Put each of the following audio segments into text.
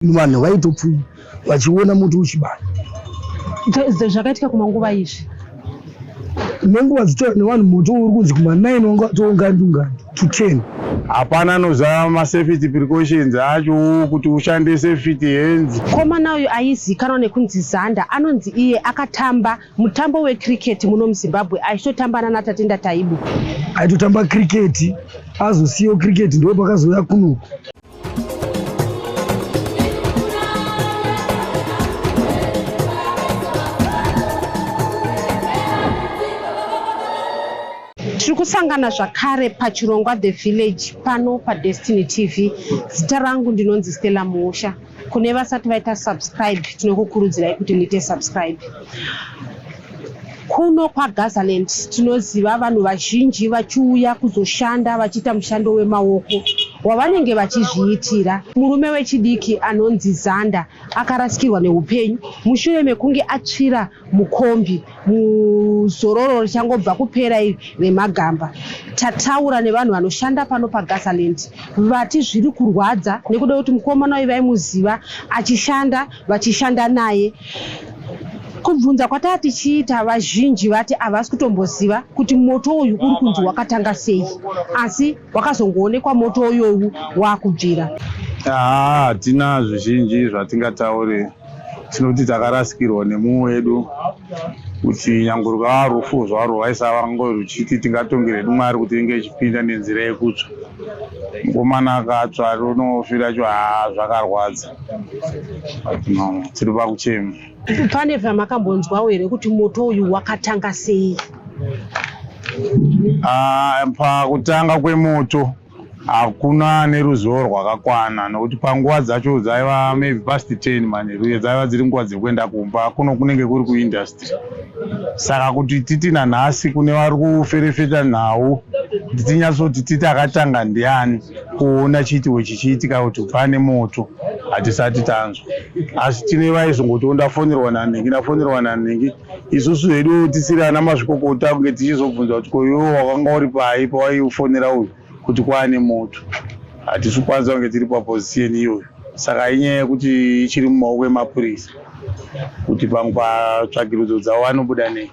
vanhu vaitopfuya vachiona muti uchibaya zvakaitika kumanguva izvi nenguva dzitora nevanhu moto uri kunzi kumanaini wanga watoungandungani to ten hapana anoziva masafety precautions acho kuti ushande safety hands komana uyu aizikanwa nekunzi zanda anonzi iye akatamba mutambo wecricket muno muzimbabwe aitotamba nanatatenda taibu aitotamba cricket azosiyawo cricket ndo pakazouya kunoku tiri kusangana zvakare pachirongwa the village pano padestiny tv zita rangu ndinonzi stella muusha kune vasati vaita subscribe tinokukurudzirai kuti muite subscribe Kuno kwaGazaland tinoziva vanhu vazhinji vachiuya kuzoshanda vachiita mushando wemaoko wavanenge vachizviitira. Murume wechidiki anonzi Zanda akarasikirwa neupenyu mushure mekunge atsvira mukombi muzororo richangobva kupera iri remagamba. Tataura nevanhu vanoshanda pano paGazaland vati zviri kurwadza nekuda kuti mukomana uyu vaimuziva achishanda vachishanda naye kubvunza kwataa tichiita vazhinji vati havasi kutomboziva kuti moto uyu uri kunzi wakatanga sei asi wakazongoonekwa moto uyowu waakubvira haa hatina zvizhinji zvatingataure tinoti takarasikirwa nemumwe wedu kuti nyange rwaa rufu zvarwo rwaisava ngo ruchiti tingatonge redu mwari kuti inge ichipinda nenzira yekutsva mukomana akatsva runofira cho haa zvakarwadza tiri vakuchema pane zvamakambonzwawo here kuti moto uyu wakatanga sei ah, pakutanga kwemoto hakuna neruzivo rwakakwana nokuti panguva dzacho dzaiva maybe past ten manje uye dzaiva dziri nguva dzekuenda kumba kuno kunenge kuri kuindustry saka kuti titi nanhasi kune vari kuferefeta nhau titinyatsoti titi akatanga ndiani kuona chiitiko chichiitika kuti pane moto hatisati tanzwa asi tine vaizongoti ondafonerwa nanhingi ndafonerwa nanhingi isusu hedu tisiri ana mazvikokota kunge tichizobvunza kuti koiwo wakanga uri pai pawaiufonera uyu kuti kwaane moto hatisi kukwanisa kunge tiri paposition iyoyo saka inyaya yekuti ichiri mumaoko emapurisa kuti pamwe patsvagirudzo dzavo vanobuda nei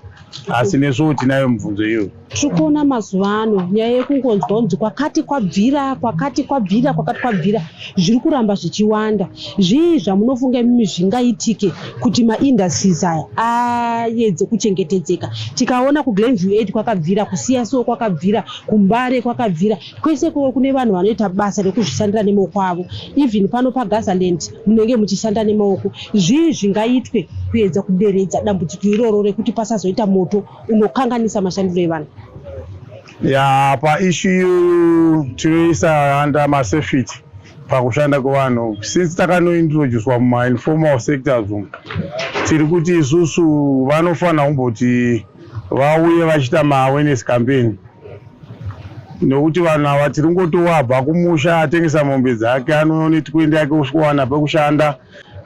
asi nesuwo tinayo mibvunzo iyoyo tiri kuona mazuva ano nyaya yekungonzwa kunzi kwakati kwabvira kwakati kwabvira kwakati kwabvira zviri kuramba zvichiwanda zvii zvamunofunga imimi zvingaitike kuti maindustries aya ayedze kuchengetedzeka tikaona kuglenview aid kwakabvira kusiya so kwakabvira kumbare kwakabvira kwese kuve kune vanhu vanoita basa rekuzvishandira nemaoko avo even pano pagazaland munenge muchishanda nemaoko zvii zvingaitwe kuedza kuderedza dambudziko iroro rekuti pasazoita moto unokanganisa mashandiro evanhu ya paishu iyoyo tinoisa under masafety pakushanda kwevanhu since takanointroducwa mumainformal sectors umu tiri kuti isusu vanofanira kumboti vauye vachiita maawareness campaign nokuti vanhu ava tiri ngotovabva kumusha atengesa mombe dzake anonetikuenda yake usikuwana pekushanda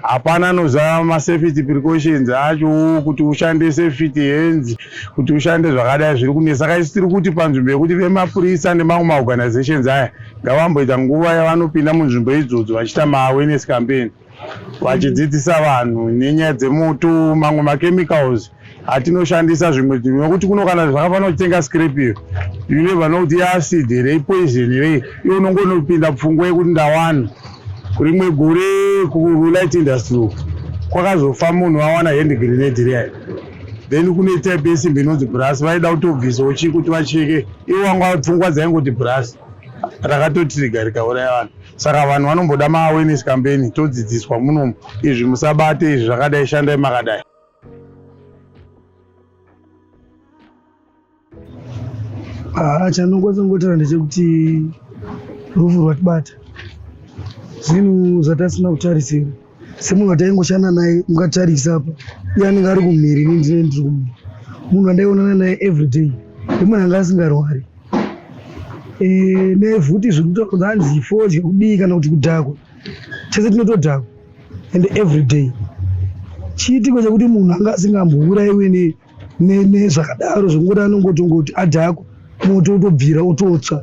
hapana anozava masafety precautions acho kuti ushande safety hands kuti ushande zvakadai zviri kunesa saka isi tiri kuti panzvimbo yekuti vemapurisa nemamwe maorganizations aya ngavamboita nguva yavanopinda munzvimbo idzodzo vachiita maawareness campaign vachidzidzisa vanhu nenyaya dzemoto mamwe machemicals atinoshandisa zvimwe zvinhu nokuti kuno kana zvakafanira kutenga scrap iyo you never know kuti iacid here ipoison here iyo unongonopinda pfungwa yekuti ndawana rimwe gore kulight industry uku kwakazofa munhu vawana hand grenade riya then kune type yesimbi inonzi brasi vaida kutobvisawo chii kuti vacheke ivo vanga pfungwa dzaingoti brasi rakatotriga rikauraya vanhu saka vanhu vanomboda maawareness campaign todzidziswa munomu izvi musabate izvi zvakadai shandai makadai haa chanongotsongotera ndechekuti rufu rwatibata zvinhu zvatasina kutarisira semunhu wataingoshanda naye mukatarisa apa iye anenge ari kumhiri ini ndine ndiri kumhiri munhu andaionana naye everyday ndemunhu anga asingarwari eh, nefuti zviri kutaura kunzi hanzi fodya kudii kana kuti kudhakwa chese tinotodhakwa and every day chiitiko chekuti munhu anga asingambourayiwe nezvakadaro zvekuti anongotongoti adhakwa moto utobvira utotsva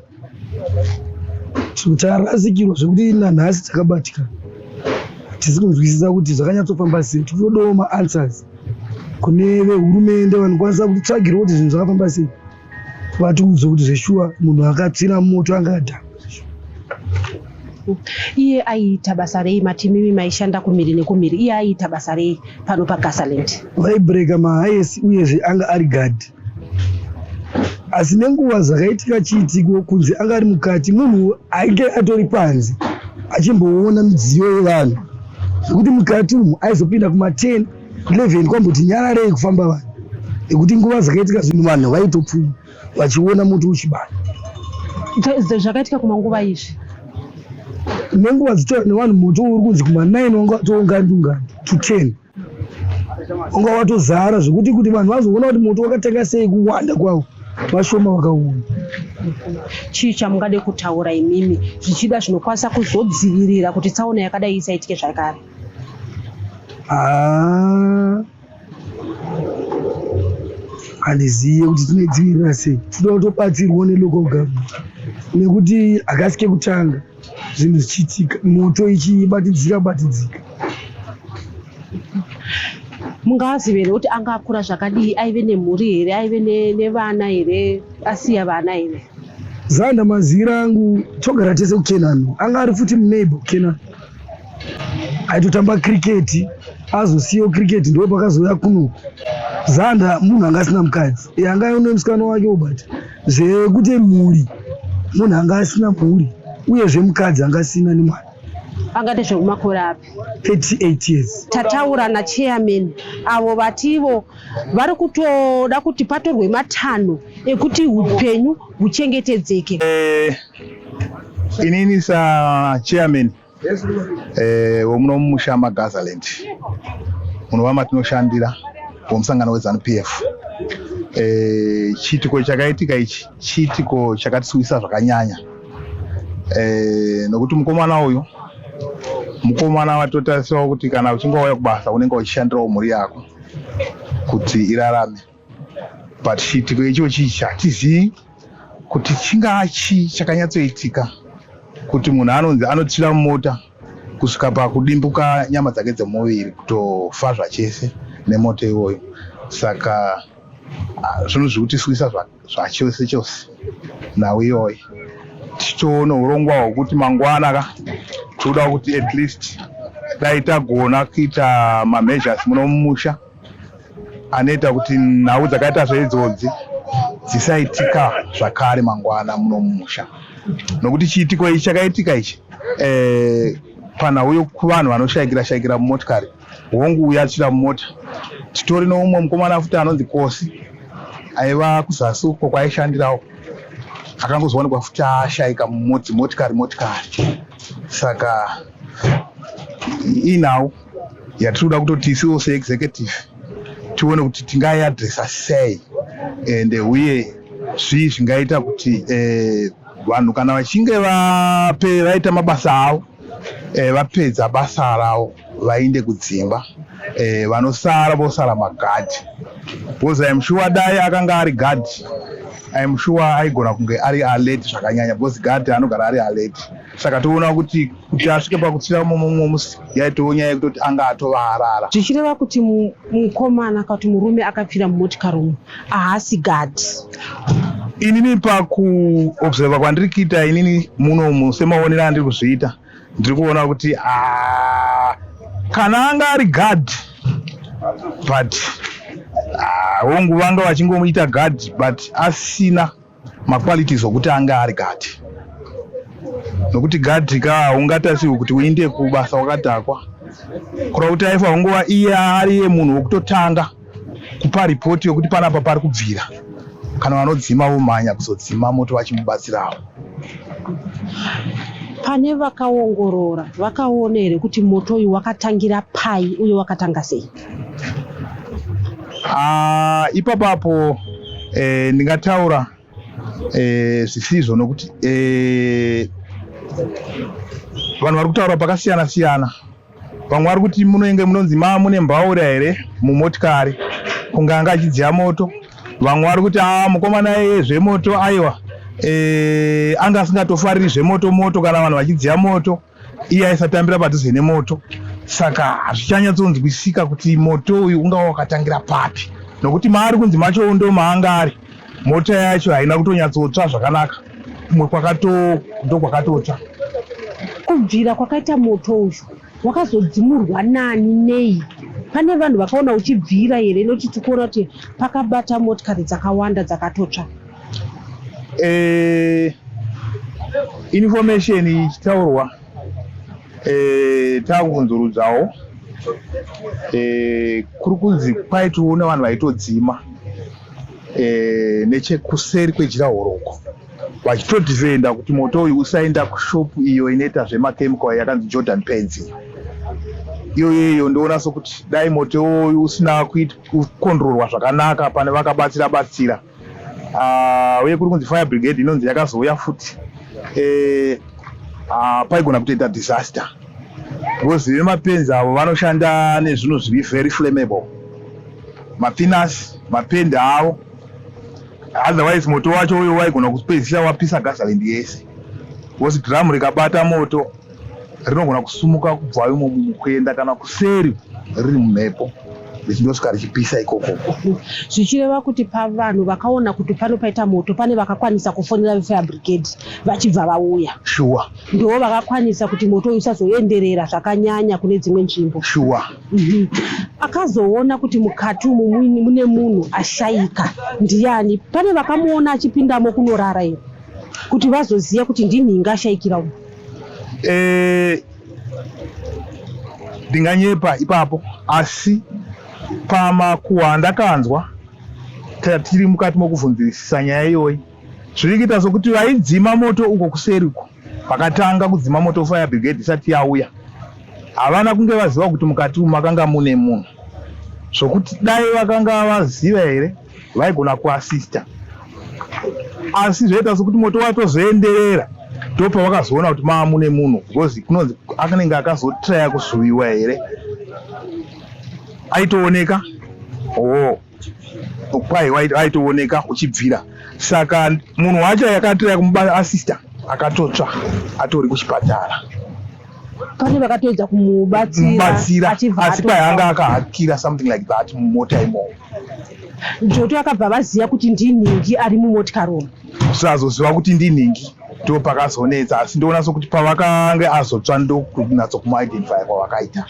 tikutarasikirwa zvekuti nanhasi takabatika tisi kunzwisisa kuti zvakanyatsofamba sei tikutodawo maanswers kune vehurumende vanokwanisa kutitsvagirawo kuti zvinhu zvakafamba sei vatiudze kuti zveshuwa munhu akatsira moto angada iye aiita basa rei matimimi maishanda kumhiri nekumhiri iye aiita basa rei pano pagasaland vaibreka mahayesi uyezve anga ari gadhi asi nenguva zvakaitika chiitiko kunze anga ari mukati munhu ainge atori panze achimboona midziyo yevanhu zvekuti mukati umu aizopinda kuma 10 Cleven kwamboti nyararei kufamba vanhu nekuti nguva dzakaitika zvinhu vanhu vaitopfuma vachiona muti uchibaya zvakaitika kumanguva izvi nenguva dzitaura nevanhu muti uri kunzi kumanaini wanga watoungandi ungandi to ten wanga watozara zvekuti kuti vanhu vazoona kuti muti wakatanga sei kuwanda kwavo vashoma vakaona chii chamungade kutaura imimi zvichida zvinokwanisa kuzodzivirira kuti tsaona yakadai isaitike zvakare Ah. handizive kuti tinodzivirira sei tinoda kutobatsirwa nelocal government nekuti hakasi kekutanga zvinhu zvichiitika moto ichibatidzika batidzika mungazive here kuti anga akura zvakadii aive nemhuri here aive nevana here asiya vana here zanda maziviro angu togara tese kukenani anga ari futi muneighbor kukenani aitotamba kriketi azosiyawo kriketi ndo pakazouya kuno zanda munhu anga asina mukadzi e, anga aone musikana wake obati zvekuti mhuri munhu anga asina mhuri uyezve mukadzi anga asina nemwana angati zvekumakore api 38 years tataura nachairman avo vativo vari kutoda kuti patorwe matanho ekuti upenyu huchengetedzeke eh, Inini sa chairman eh, womuno mumusha maGazaland munova matinoshandira womusangano weZanu PF eh, chiitiko chakaitika ichi chiitiko chakatisuwisa zvakanyanya eh, nokuti mukomana uyu mukomana watotarisirawo kuti kana uchinge wauya kubasa unenge uchishandirawo mhuri yako kuti irarame but chiitiko icho chichi hatizivi kuti chingaa chii chakanyatsoitika kuti munhu anonzi anotira mota kusvika pakudimbuka nyama dzake dzemuviri kutofa zvachese nemoto iwoyo saka ah, zvinhu zviri kutiswisa zvachose chose nhau iyoyo tichitoona urongwa hwekuti mangwana ka tinoda kuti at least dai tagona kuita mameasures muno mumusha anoita kuti nhau dzakaita zveidzodzi dzisaitika zvakare mangwana muno mumusha nokuti chiitiko ichi chakaitika ichi eh, panhau yokuvanhu vanoshayikira shayikira mumotikari hongu uya atsvira mumota titori noumwe mukomana futi anonzi kosi aiva kuzasi uko kwaishandirawo akangozoonekwa futi ashayika mumodzi motikari motikari saka inhau yatinoda kutoti isiwo seexecutive tione kuti tingaiadresa sei and uye zvii zvingaita kuti eh, vanhu kana vachinge vape vaita mabasa avo eh, vapedza basa ravo vainde kudzimba eh, vanosara vosara magadhi because im sure dai akanga ari gadhi im sure aigona kunge ari alert zvakanyanya because gadhi anogara ari alert saka toona kuti kuti asvike pakutsira mumwe musi yaitoo nyaya yekutoti anga atova arara zvichireva kuti mukomana kana kuti murume akapfira mumotikari umu ahasi gadi inini pakuobserva kwandiri kuita inini munomu semaonero andiri kuzviita ndiri kuona kuti ah, kana anga ari gadi but hongu ah, vanga vachingomuita gadi but asina maqualities okuti anga ari gadi nokuti gadi ka haungatasirwi kuti uinde kubasa wakadhakwa kura kuti aifa hungova iye ariye munhu wekutotanga kupa ripoti yokuti panapa pari kubvira kana vanodzima vomhanya kuzodzima moto vachimubatsirawo pane vakaongorora vakaona here kuti moto uyu wakatangira pai uye wakatanga sei Ah, ipapapo eh, ndingataura eh, zvisizvo nokuti eh, vanhu vari kutaura pakasiyana siyana vamwe vari kuti munoinge munonzi ma mune mbaura here mumotikari kunge anga achidziya moto vamwe vari kuti a ah, mukomana eye zvemoto aiwa e, anga asingatofariri zvemoto moto kana vanhu vachidziya moto iye aisatambira padhuze nemoto saka hazvichanyatsonzwisika kuti moto uyu ungava wakatangira papi nokuti maari kunzi macho ndo maanga ari mota yacho haina kutonyatsotsva zvakanaka kumwe kwakatondo kwakatotsva kubvira kwakaita moto uyu wakazodzimurwa nani nei pane vanhu vakaona uchibvira here nokuti tikuona kuti pakabata motikari dzakawanda dzakatotsva eh, information ichitaurwa eh, takunzurudzawo eh, kuri kunzi kwaitiwo nevanhu vaitodzima eh, nechekuseri kwejira horoko vachitodhivenda kuti moto uyu usaenda kushopu iyo inoita zvemachemical yakanzi jordan pads iyo iyoyeyo ndoona sokuti dai moto uyu usina kukonrorwa zvakanaka pane vakabatsira batsira uh, uye kuri kunzi fire brigade inonzi yakazouya futi eh, uh, paigona kutoita disaster because vemapenzi avo vanoshanda nezvinhu zviri very flammable mapinasi mapendi avo otherwise moto wacho uyo waigona kupedzisa wapisa gazaland yese because dhiramu rikabata moto rinogona kusumuka kubva imomo kuenda kana kuseri riri mumhepo richindosvika richipisa ikoko zvichireva kuti pavanhu vakaona kuti pano paita moto pane vakakwanisa kufonera vefire brigade vachibva vauya shuwa ndivo vakakwanisa kuti moto uyu usazoenderera zvakanyanya kune dzimwe nzvimbo shuwa mhm. akazoona kuti mukati umu mune munhu ashaika ndiyani pane vakamuona achipindamo kunorara iri kuti vazoziva kuti ndinhinga ashaikira umu eh, ndinganyepa ipapo asi pamakuhwa andakanzwa tiri mukati mokuvhunzisisa nyaya iyoyi zviri kuita sokuti vaidzima moto uko kuseri uko vakatanga kudzima moto fire brigade isati yauya havana kunge vaziva kuti mukati umu makanga mune munhu zvokuti dai vakanga vaziva here vaigona kuasista asi zvaita sekuti moto watozoenderera ndopa vakazoona kuti maa mune munhu because kunonzi anenge akazotraya kusuviwa here aitooneka oo kwai aitooneka uchibvira saka munhu wacho yakatraya kumubata asista akatotsva atori kuchipatara pane vakatoedza kumubatsira asi kwai anga akahakira something like that mumota imomo Joto akabva vaziva kuti ndinhingi ari mumotikari umu. Sazoziva kuti ndinhingi ndo pakazonetsa asi ndoona sokuti pavakange azotsva ndokunatso kumuidentifya kwavakaita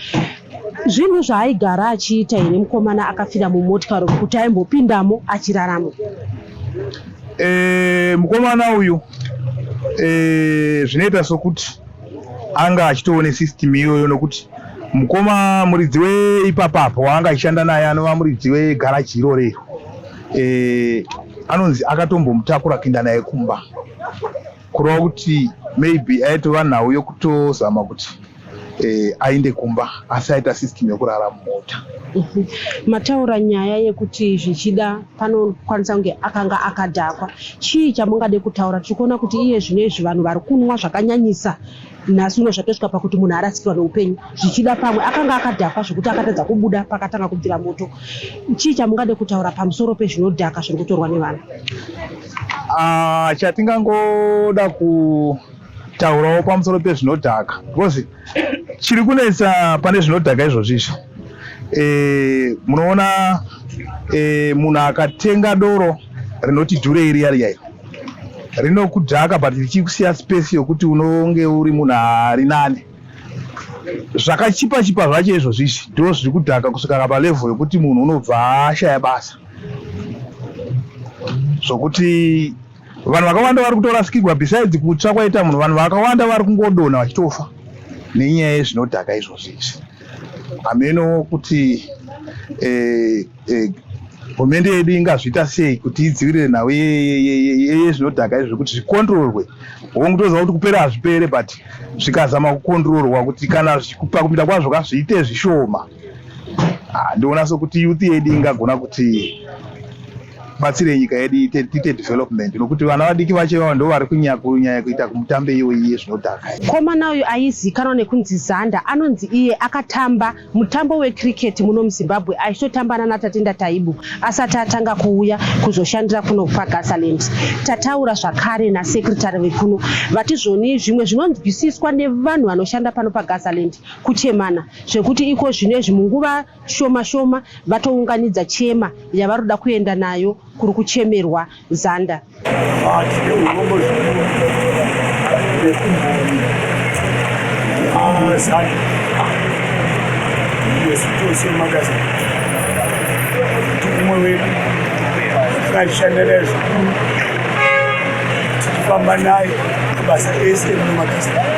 zvinhu zvaaigara achiita here mukomana akafira mumotikari kuti aimbopindamo achiraramo e, mukomana uyu e, zvinoita sokuti anga achitoone system iyoyo nokuti mukoma muridzi weipapa apo waanga achishanda naye anova muridzi wegaraji iroro iro e, anonzi akatombomutakura kuinda naye kumba kureva kuti maybe aitova nhau yokutozama kuti e, ainde kumba asi aita system yokurara mumota mataura nyaya yekuti zvichida panokwanisa kunge akanga akadhakwa chii chamungade kutaura tiri kuona kuti iye zvino izvi vanhu vari kunwa zvakanyanyisa nhasi uno zvatosvika pakuti munhu arasikirwa neupenyu zvichida pamwe akanga akadhakwa zvekuti akatadza kubuda pakatanga kubvira moto chii chamungade kutaura pamusoro pezvinodhaka zviri kutorwa nevanhu ah, chatingangoda ku Taurawo pamusoro pezvinodhaka because chiri kunetsa pane zvinodhaka izvozvi izvi e, munoona e, munhu akatenga doro rinoti dhure iri yari yairo rinokudhaka but richikusiya space yokuti unonge uri munhu ari nani zvakachipa chipa zvacho izvozvi izvi ndo zviri kudhaka kusvika kapa level yokuti munhu unobva ashaya basa zvokuti vanhu vakawanda vari kutorasikirwa besides kutsva kwaita munhu vanhu vakawanda vari kungodonha vachitofa nenyaya yezvinodhaka izvozvi izvi hameno kuti eh, eh, hurumende yedu ingazviita sei kuti idzivirire nhau yezvinodhaka izvi zvekuti zvikontrorwe hongu toziva kuti kupera hazvipere but zvikazama kukontrorwa kuti kana kuita kwazvo ka zviite zvishoma Ah, ndoona sokuti youth yedu ingagona kuti batsire nyika yedu ite development nokuti vana vadiki vacho ivavo ndo vari kunyanya kuita kumutambe iyo iye zvinodhaka komana uyu aizikanwa nekunzi zanda anonzi iye akatamba mutambo wecricket muno muzimbabwe aitotamba nana tatenda taibu asati atanga kuuya kuzoshandira kuno pagasaland tataura zvakare nasekretary vekuno vati zvoni zvimwe zvinonzwisiswa nevanhu vanoshanda pano pagasaland kuchemana zvekuti iko zvino izvi munguva shoma shoma vatounganidza chema yavari kuda kuenda nayo kuri kuchemerwa zanda umwe wedu ngaishanderezvo tichifamba naye kubasa ese mumakasai